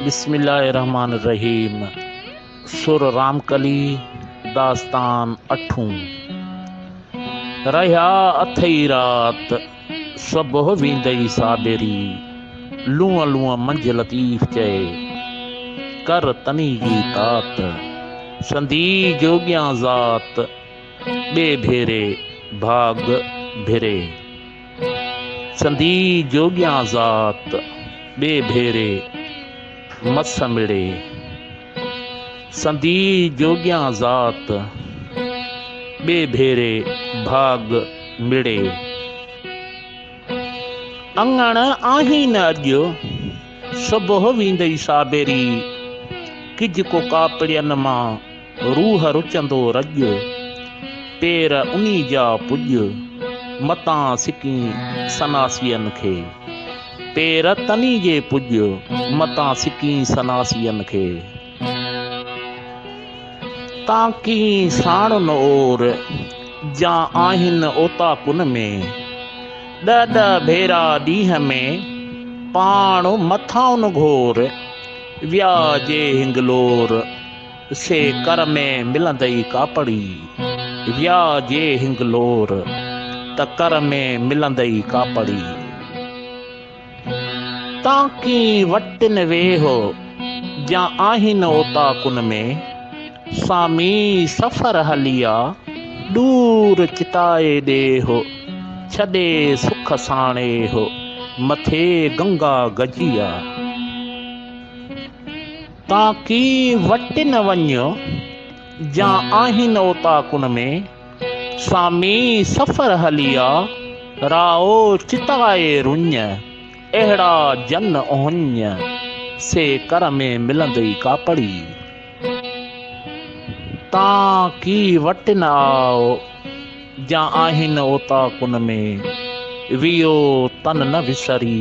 بسم الله الرحمٰن الرحيم سر رامڪلي داستان اٺون رهيا اٿئي رات صبح ويندئي صابري لونء لونء منجهه لطيف چئي ڪر تني جي تات سندي جوڳيان ذات ٻي ڀيري ڀاڳ ڀري سندي جوڳيان ذات ٻي ڀيري مس مڙي. سندي جوڳيان ذات ٻي ڀيري ڀاڳ مڙي. اڱڻ آهين اڄ صبح ويندئي سابيري. ڪج ڪو ڪاپڙين مان روح رچندو رڄ، پير انهي جا پڄ، متان سڪين سناسين کي. پير تنهي جي پڄ، متان سڪين سناسين کي. تانڪين ساڻن اور، جا آهن اوطاقن ۾. ڏهه ڏهه ڀيرا ڏينهن ۾، پاڻ مٿائن گهور. ويا جي هنگلور. سي ڪر ۾ ملندئي ڪاپڙي، ويا جي هنگلور ته ڪر ۾ ملندئي ڪاپڙي. تانڪي وٽن ويهه جا آهين اوطاقن ۾، سامي سفر هلي آ، ڏور چتائي ڏيهه، ڇڏي سک ساڻيهه، مٿي گنگا گجي آ. تان ڪي وٽ نه وڃ، جا آهين اوطاقن ۾، سامي سفر هلي آ، رائو چتائي رڃ، اهڙا جن اهڃ، سي ڪر ۾ ملندئي ڪاپڙي. تان ڪي وٽ نه آء، جا آهين اوطاقن ۾، ويو تن نه وسري.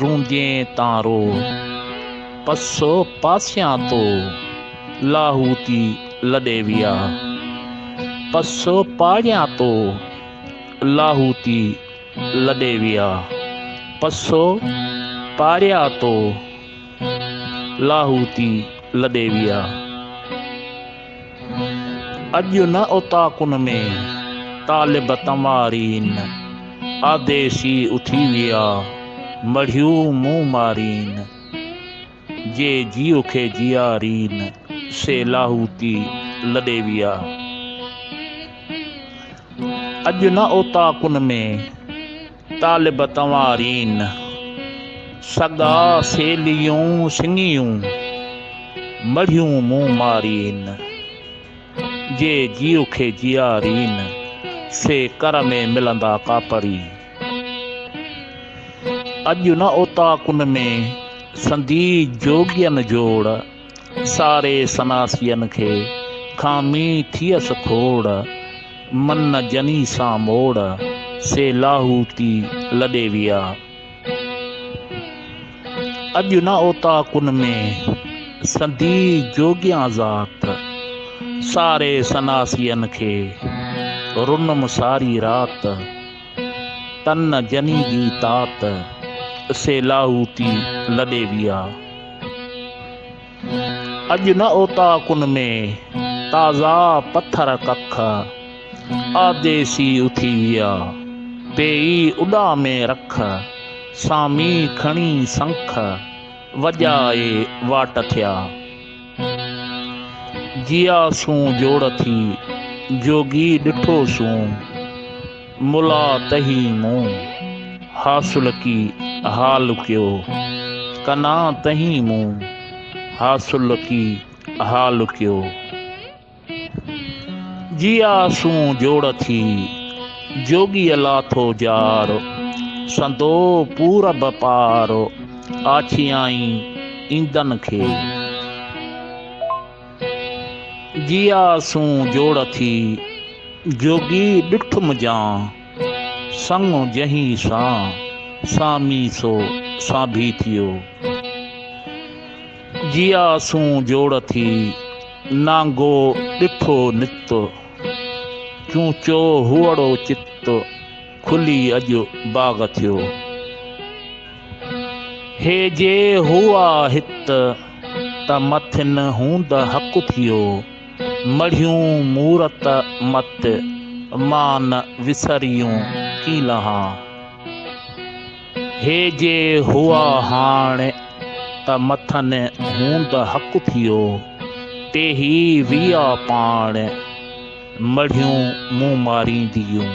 روندين تان رو پسو پاسيان تو لاهوتي لڏي ويا پسو پاڙيان تو لاهوتي لڏي ويا پسو پاڙيا تو لاهوتي لڏي ويا. اڄ نه اوطاقن ۾ طالب تنوارين، آديسي اٿي ويا مڙهيو مون مارين. جي جيو کي جيارين، سي لاهوتي لڏي ويا. اڄ نه اوطاقن ۾. طالب تنوارين، سڳا سيليون سڱيون، مڙهيون مون مارين، جي جيو کي جيارين، سي ڪر ۾ ملندا ڪاپري. اڄ نه اوطاقن ۾، سندي جوڳين جوڙ. ساري سناسين کي کامي ٿيس کوڙ، من جني سان موڙ، سي لاهوتي لڏي ويا. اڄ نه اوطاقن ۾، سندي جوڳيان ذات، ساري سناسين کي رنم ساري رات، تن جني جي تات، سي لاهوتي لڏي ويا. اڄ نه اوطاقن ۾ تازا پٿر ڪک، آديسي اٿي ويا پيئي اڏامي رک، سامي کڻي سنک، وڄائي واٽ ٿيا. جيا سون جوڙ ٿي، جوڳي ڏٺو سون. ملا تهي مون حاصل ڪي حال ڪيو ڪنا تهي مون حاصل ڪي حال ڪيو جيا سون جوڙ ٿي جوڳي لاٿو جار سندو پورب پار آڇيائين ايندن کي جيا سون جوڙ ٿي جوڳي ڏٺ مجان سڱ جنهين سان سامي سو سانڀي ٿيو جيا سون جوڙ ٿي نانگو ڏٺو نت چون چو هوئڙو چت کلي اڄ باغ ٿيو هي جي هو آ هت ته مٿن هوند حق ٿيو. مڙهيون مورت مت، مان نه وسريون ڪين لهان. هي جي هئا هاڻ ته مٿن هوند حق ٿيو. ٽيهي ويا پاڻ، مڙهيون مون مارينديون.